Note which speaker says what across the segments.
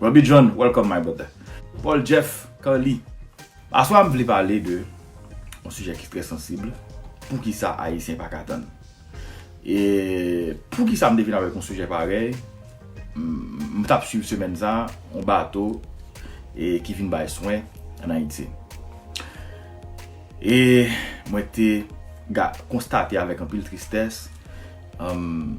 Speaker 1: Roby John welcome my brother. Paul Jeff Carly Aswa m vle pale de yon sijè ki trè sansib Poukisa Ayisyen pa ka tann? E poukisa m te vin avèk yon sijè parèy M t ap swiv semèn sa a yon bato ki vin bay swen ann Ayiti E mwen te konstate avèk anpil tristès Humm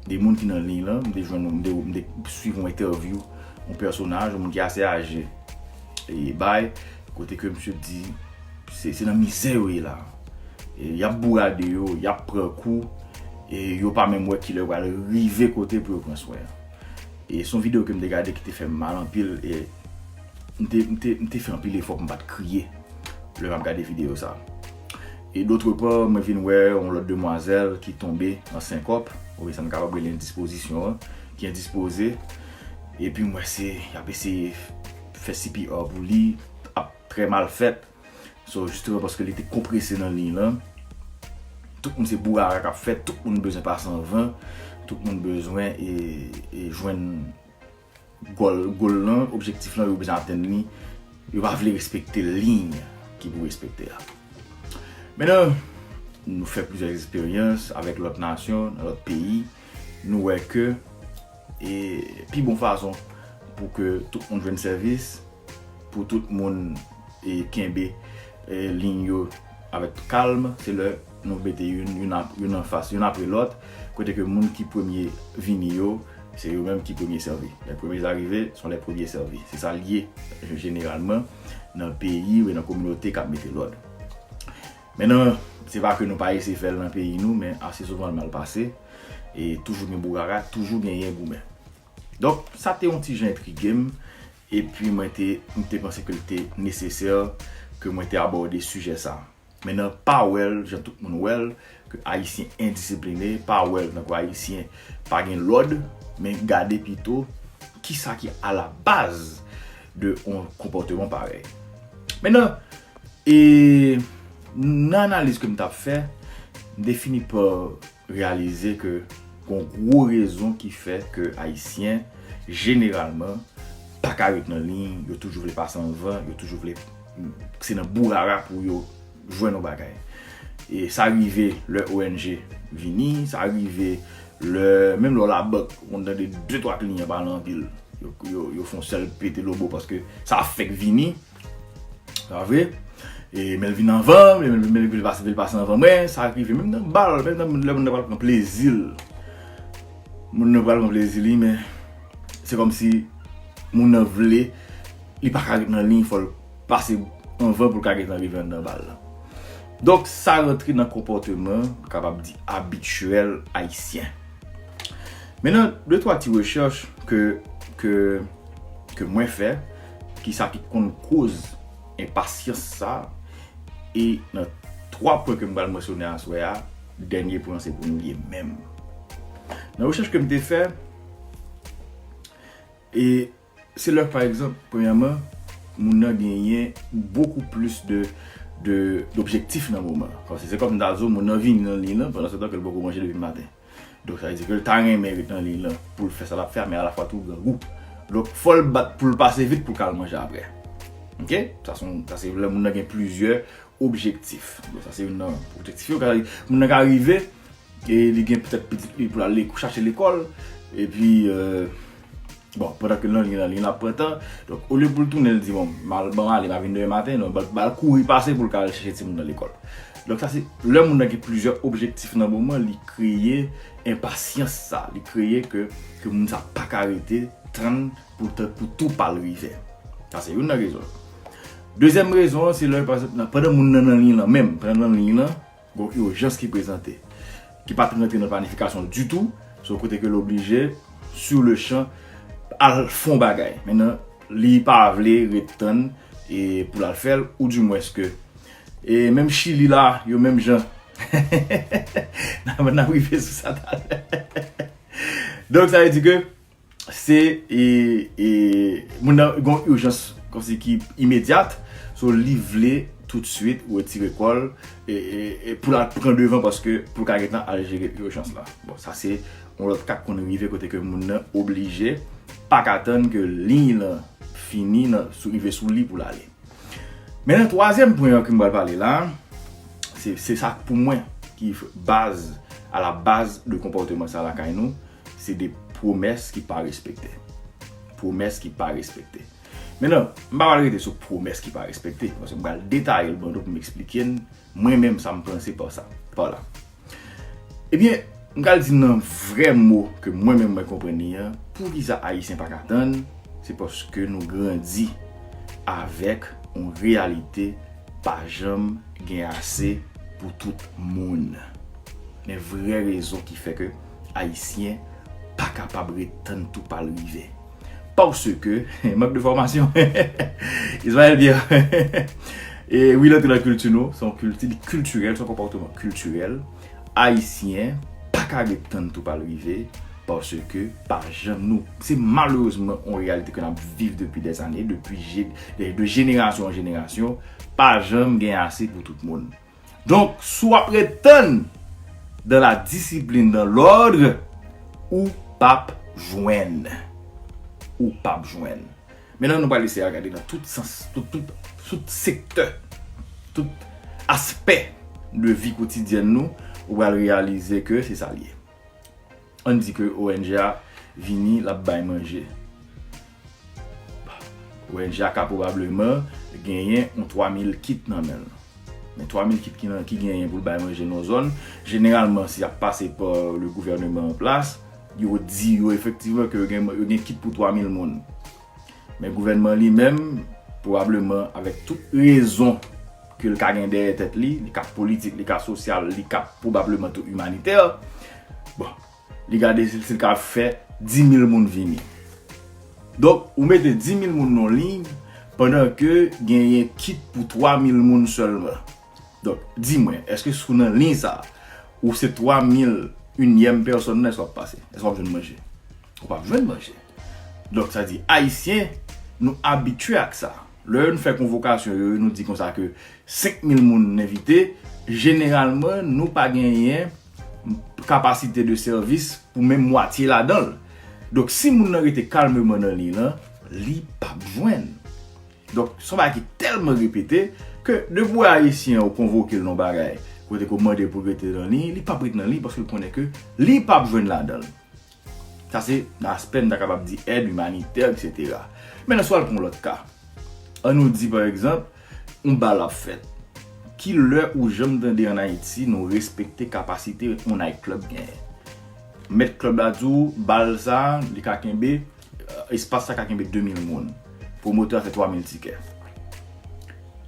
Speaker 1: de moun ki nan liy lan m te jwenn m te swiv yon entèvyou yon pèsonaj yon moun ki ase aje e bay kote ke misye di se nan mizè yo ye la yap bourade yo yap pran kou e yo pa menm wè kilè yo pral rive kote pou yo pran swen e son video kem te gade ki te fèm mal anpil e m te fè anpil efò pou m pat kriye lè map gade video sa. E d'autre part, mwen vin wè yon lòt demwazèl ki tonbe an senkòp, ou byen sa m kapab rele endispozisyon an, ki endispoze, epi m wè se, y ap eseye fè CPR pou li, ap trè mal fèt. So, jisteman paske li te konprese nan liy lan, tout moun se bourara k ap fèt, tout moun bezwen pase anvan, tout moun bezwen e jwenn. Gòl, goal, lan, objektif lan yo bezwen atenn li, yo pa vle respekte liy ki pou respekte a. Mennen, nou fè plizyè eksperyans avèk lòt nasyon, nan lòt peyi, nou wè ke e pi bon fason pou ke tout moun jwenn sèvis, Pou tout moun kenbe liy yo avèk kalm, se lè nou mete youn anfas youn apre lòt, kote ke moun ki premye vini yo, se yo menm ki premye sèvi. Les premiers arrivés sont les premiers servis. Se sa l ye jeneralman nan peyi oubyen nan kominote k ap mete lòd. Men nan, se pa ke nou pa eseye fè l nan peyi nou, men ase souvan l mal pase, e toujou gen bourara, toujou genyen goumen. Donk, sa te yon ti jan entrige m, Epi mwen te, m te panse ke l te nesesè ke mwen te abòde sijè sa. Men nan pa wè l jan tout moun wè l, ke Ayisyen endisipline, pa wè l tankou Ayisyen pa gen lòd, men gade pito kisa ki alabaz de yon konpòteman parèy. Men nan, e nan analiz ke m t ap fè, m te fini pa reyalize ke gon gwo rezon ki fè ke Ayisyen jeneralman pa ka ret nan liy, yo toujou vle pase anvan, yo toujou vle, se nan bourara pou yo jwenn yon bagay. E sa rive lè ong vini, sa rive lè, menm lè w labank, ou konn tande de twa kliyan pale anpil, yo fon sèl pete lobo paske sa fèk vini. Sa vre? E menl vin anvan, menl pase anvan mwen, sa ak rive menm nan bal, menm nan lè moun nan pral pran plezil. Moun nan pral pran plezil li men, se kòm si moun nan vle, li pa ka ret nan liy fòl pase anvan pou l ka gentan rive anndan bal la. Donk sa rantre nan konpòteman, kapab di abityèl ayisyen. Mennen, de twa ti rechèch ke mwen fè. Kisa ki konn koz enpasyans sa a? E nan 3 pwen ke m pral mansyone aswè a, dènye pwen an se pou nou ye menm. Nan rechèch ke m te fè, e se lè pa egzanp, premyèman, moun nan genyen bokou plis de objektif nan moman. Paske se kòm m ta di w, moun nan vini nan liy lan pandan se tan ke l poko manje depi maten. Donk sa vle di ke l ta renmen ret nan liy lan pou l fè sa l ap fè a men alafwa tou grangou. Donk fò l bat pou l pase vit pou l ka al manje aprè. Ok? Sa se yon, sa se lè moun nan gen plizyè objektif. Donk sa se youn nan objektif yo. Moun nan ka rive e li gen petèt pitit li pou l al chache lekòl epi. Bon, pandan ke Lanlin nan li ap pran tan, donk olye pou l tounen l di bon, m al ban ale, m ap vin demen maten, non, ba l kouri pase pou l ka al chèche timoun nan lekòl. Donk sa se, lè moun nan gen plizyè objektif nan moman, li kreye enpasyans sa, li kreye ke moun sa pa ka rete tann pou tan pou tou pa l rive. Sa se youn nan rezon. Dezyèm rezon an se lè, pandan moun nan nan liy lan menm, pandan l nan liy lan, Gon urjans ki prezante, ki pat rantre nan planifikasyon ditou, so kote ke l oblije sur le chan al fè yon bagay. Mennen li pa vle ret tann e pou l al fè l ou di mwens ke e menm chili la yo menm jan nap rive sou sa talè. Donk sa vle di ke. se moun nan gen yon ijans kòmsi ki imedyat so li vle toutswit wetire kò l pou l al pran devan paske pou l ka gentan al jere ijans la bon sa se yon lòt ka k konn rive kote ke moun nan oblije pa ka tann ke liy lan fini nan sou rive sou li pou l ale men nan twazyèm pwen an ke m pral pale la se sa k pou mwen ki baz a la baz de konpòteman sa lakay nou Se de pwomès ki pa respekte. Pwomès ki pa respekte. Men nan, m pa pral rete sou pwomès ki pa respekte. M pral detaye l ban nou pou m esplike n mwen menm sa m panse pa sa. Pa la. Ebyen, m pral di nan vre mo ke mwen menm mwen konprann li an, pou ki sa Ayisyen pa ka atann, se paske nou grandi avèk yon reyalite pa janm gen ase pou tout moun. Men vre rezon ki fè ke. Ayisyen pa kapab ret tann tou pa l rive. Paske, mank de fòmasyon. Israel Pierre, Wi l antre nan kilti nou, se yon kilti li kiltirèl, se yon konpòteman kiltirèl. Ayisyen pa ka ret tann tou pa l rive. Paske, pa jan nou. Se malerezman yon reyalite ke n ap viv depi dè zane, depi de jenerasyon an jenerasyon. Pa janm gen ase pou tout moun. Donk, si w ap ret tann dans la discipline, dans l'ordre, ou p ap jwenn. Ou p ap jwenn. Mennen nou pral eseye a gade nan tout sans, tout, tout, tout sektè, tout aspè de vi kotidyèn nou, ou pral reyalize ke se sa l ye. Ann di ke ong a vini l ap bay manje. Ong a ka pwobableman genyen yon 3 mil kit nan men l. Men 3 mil kit ki genyen pou l bay manje nan yon zòn, jeneralman si y ap pase pa le gouvèneman an plas, yo di yo efektivman ke yo gen kit pou 3 mil moun. Men gouvènman li menm, pwobableman avèk tout rezon ke l ka gen dèyè tèt li, li ka politik, li ka sosyal, li ka pwobableman tou imanitè, bon, li gade si l ka fè 10.000 moun vini. Donk, ou mete 10.000 moun nan liy, pandan ke genyen kit pou 3.000 moun sèlman. Donk, di mwen, èske sou nan liy sa a, ou se 3 mil inyèm pèsòn nan, èske w ap pase? Èske w ap jwenn manje? Ou pa p jwenn manje. Donk, sa di, Ayisyen, nou abitye ak sa. Lè yo nou fè konvokasyon yo, yo nou di kon sa ke 5 mil moun n envite, jeneralman, nou pa genyen kapasite de sèvis pou menm mwatye ladan l. Donk, si moun nan rete kalmeman nan liy lan, li pa p jwenn. Donk, son bagay ki tèlman repete, ke depi ou wè Ayisyen ou konvoke l nan yon bagay, kote ke ou mande pou l rete nan liy, li pap ret nan liy paske l konnen ke li pap jwenn ladan l. Sa se nan aspè m ta kapab di èd imanitè eksetera. Mentnan si w al pran yon lòt ka, an nou di pa egzanp, yon bal ap fèt. Ki lè ou janm tande an Ayiti nou respekte kapasite yon nayt klèb genyen? Mèt klèb la di w bal sa li ka kenbe. espas la ka kenbe 2000 moun. Pwomotè a fè 3000 tikè.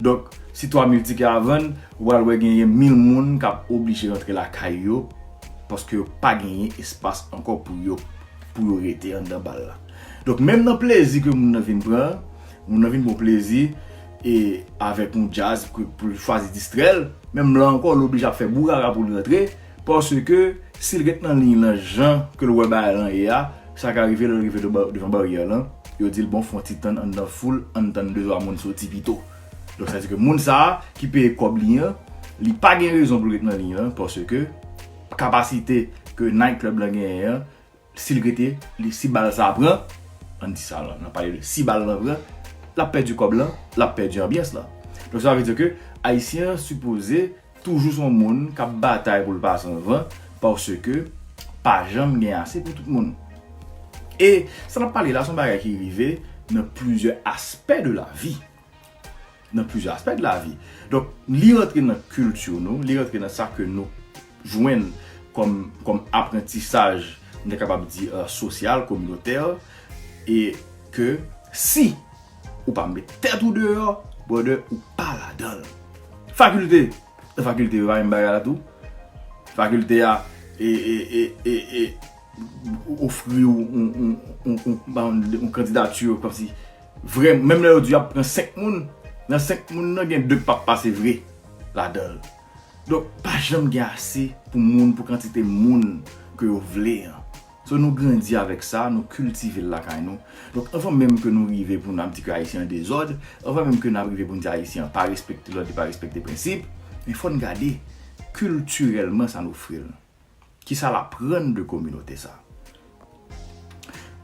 Speaker 1: Donk, si 3000 tikè a vann, ou pral wè genyen 1000 moun k ap oblije rantre lakay yo paske yo pa genyen espas ankò pou yo pou yo rete anndan bal la. Donk, menm nan plezi ke moun nan vin pran, moun nan vin pran plezi e avèk yon djaz pou l chwazi distrè l, menm la ankò l oblije ap fè bourara pou l rantre Paske, si l ret nan liy lan jan ke l wè bagay lan ye a, sa ka rive lè l rive devan baryè lan, yo di l bon fè yon ti tann anndan foul, ann tann de twa moun soti pito. Donk sa vle di ke moun sa a ki peye kòb li an, li pa gen rezon pou l ret nan liy lan paske kapasite ke night club lan genyen an, Si l rete, li si bal sa pran, an di sa nan pale de si bal nan pran, l ap pèdi kòb lan, l ap pèdi anbyans lan. Donk sa vle di ke Ayisyen an sipoze toujou son moun k ap batay pou l pa san van paske pa janm gen ase pou tout moun. E sa n ap pale la son bagay ki rive nan plizyè aspè de lavi. nan plizyè aspè de lavi. Donk, li rantre nan kilti nou, li rantre nan sa ke nou jwenn kòm aprantisaj, m ta kapab di sosyal, kominotè, e ke si ou pa met tèt ou deyò, brother, ou pa ladan l. Fakilte, nan fakilte yo pa menm bagay la tou. Fakilte a, e, e, e, e, e, ofri ou yon kandidatè kòmsi. Vrè menm lè yo di yap pran 5 moun nan 5 moun nan gen 2 k pap pase vre ladanl donk pa janm gen ase pou moun pou kantite moun ke yo vle an so nou grandi avèk sa nou kiltivel lakay nou donk anvan menm ke nou rive pou nap di ke ayisyen an dezòd anvan menm ke nap rive poun di ayisyen an pa respekte lòd li pa respekte prensip men fòn gade kiltirèlman sa n ofril. Ki sa l aprann de kominote sa?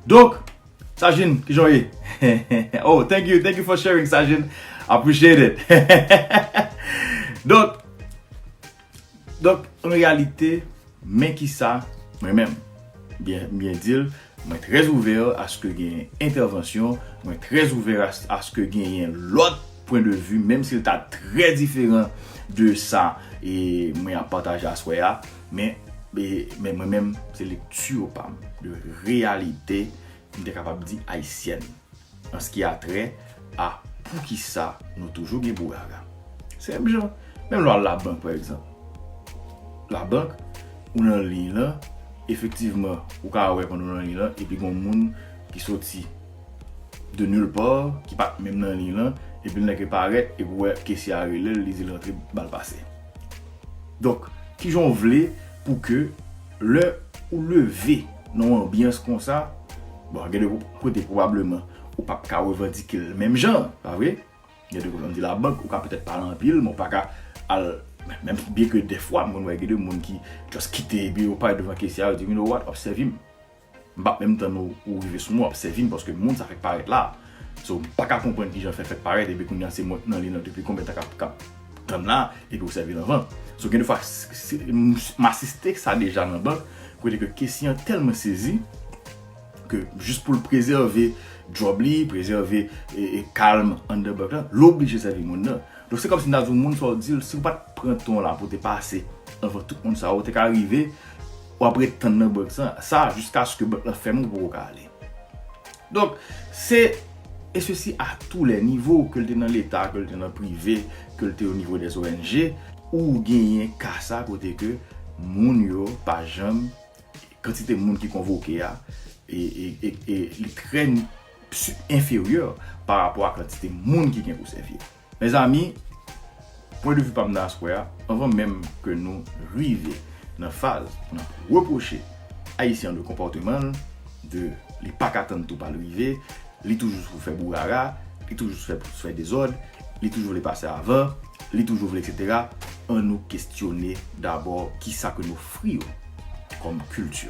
Speaker 1: Donk, Sajin, ki jan w ye? Oh, thank you, thank you for sharing, Sajin. Appreciate it. Donk, donk, an reyalite, men ki sa, mwen menm, m byen di l, Mwen trè ouvè aske gen entèvansyon, mwen trè ouvè aske genyen lòt pwen de vi menm si l ta trè diferan de sa mwen ap pataje aswè a, men mwen menm se lekti pa m de reyalite m te kapab di ayisyèn. An s ki a trè a poukisa nou toujou gen pou gaga. Se menm jan, menm lè w al labank pa egzanp. Labank, ou nan liy lan, efektivman, ou ka wè pandan w nan liy lan, epi gen yon moun ki soti de nil part, ki pa t menm nan liy lan, epi l nan ke parèt, epi ou wè kesye a rele l, li di l rantre, ba l pase. Donk, ki jan w vle pou ke. Lè ou leve nan yon anbyans konsa, bon gen de kote pwobableman ou pap ka revandike l menm jan, pa vre? Gen de kote an di labank ou ka petèt pa al anpil men ou pa ka al menm byen ke dèfwa m konn wè gen de moun ki just kite epi yo pale devan kesye a yo di you know what, obsève m. M pap menm tann ou ou rive sou mwen wap sèvim paske moun sa fèk parèt la so m paka konprann kijan l fè fèk parèt epi kounya se mwen k nan li nan depi konbyen tan kap kap tann la epi ou sèvil anvan so gen de fwa m asiste sa deja nan bank kote ke kesye an tèlman sezi ke jis pou l prezève djòb li prezève kalm anndan bank lan l oblije sèvi moun nan donk se kòmsi m ta di w moun sa w di l si w pat pran tan w la pou w te pase anvan tout moun sa yo ou te ka rive. w ap ret tann nan bank sa a jiskaske bank lan fèmen ou poko ka ale. Donk, se e sesi a tou lè nivo ke l te nan leta, ke l te nan prive, ke l te o nivo dè ONG, ou genyen ka sa kote ke moun yo pa janm, kantite moun ki konvoke a, e li trè enferyè pa rapò a kantite moun ki gen pou sèvi. Mezanmi, pwen de vi pa m nan aswè a, anvan menm ke nou rive nan faz pou nap repwoche Ayisyen an de konpòteman l, de li pa ka tann tou pa l rive, li toujou sou fè bourara, li toujou sou fè pou fè dezòd, li toujou vle pase avan, li toujou vle etc. An nou kestyone dabò ki sa ke n ofri yo kòm kilti.